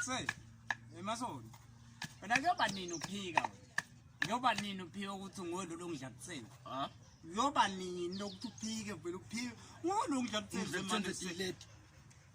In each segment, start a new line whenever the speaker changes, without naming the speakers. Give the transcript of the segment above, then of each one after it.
Say, emasoni. Wena kuyoba nini uphika wena? Kuyoba nini uphika ukuthi ngolo longidla kutheni? Ha?
Kuyoba nini
lokuthi uphike vele uphike? Ngolo ngidla kutheni manje?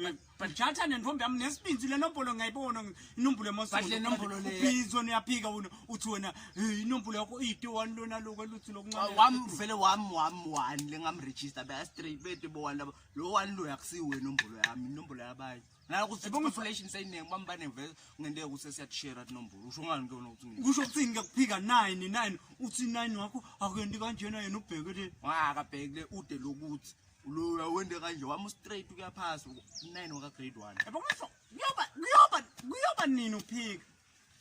But but jatha nentombi yami nesibinzi lenombolo ngiyayibona inombolo emasonto. But lenombolo le ubizwa
niyaphika wena
uthi wena inombolo yakho iyiti one lona lokho eluthi lokuncane. Wam vele wam
wam one lengam register ba straight bete bo one labo lo one lo yakusi wena inombolo yami inombolo yabayi. Nala kuthi population sayinengi bambane vele ngende ukuthi siyashare inombolo. Usho ngani ke wena ukuthi kusho ukuthi ngikuphika 9
9 uthi 9 wakho akuyendi kanjena yena ubheke le. Wa akabhekile ude
lokuthi Uloya wende kanje wami straight kuyaphasa 9 waka grade 1. Yabo ngisho
kuyoba kuyoba kuyoba nini uphika?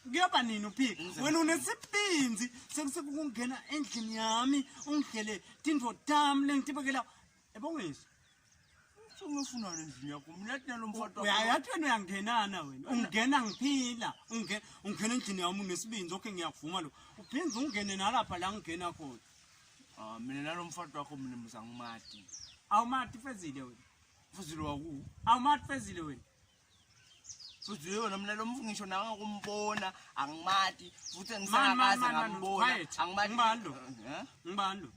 Kuyoba nini uphika? Wena unesibinzi sekusukungena endlini yami ungidlele tindvo tam lengitibekela. Yabo ngisho
ungifuna endlini yakho mina thina lo mfana uyayathi wena uyangenana
wena ungena ngiphila ungena ungena endlini yami unesibinzi okay ngiyakuvuma lo uphinze ungene nalapha la ngingena khona Ah, mina
nalomfati wakho mina mbuza ngumati. Awumati
fezile wena. Fuzile waku.
Awumati fezile
wena.
Fuzile wena mina lomfu ngisho nawe kumbona angimati futhi Man, man, ngisakaze man, man, ngambona. quiet. Angimati. Ngubani lo? Eh? Ngibani
lo?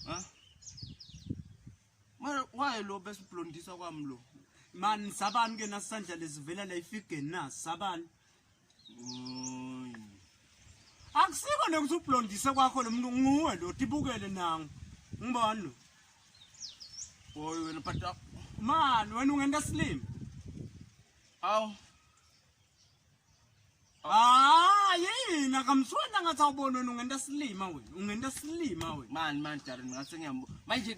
Huh?
Mara waye lo besiblondisa kwami lo. Man sabani
ke nasandla lesivela la ifigeni na sabani. akusiko lokuthi ublondise kwakho lo muntu nguwe lo tibukele nangu ngibona lo
boy wena but uh, man wena
ungenta silima
awu
Ah, yini akamsona ngathi awubona wena ungenta silima wena. Ungenta silima wena. Man man Darren ngathi ngiyambo.
Manje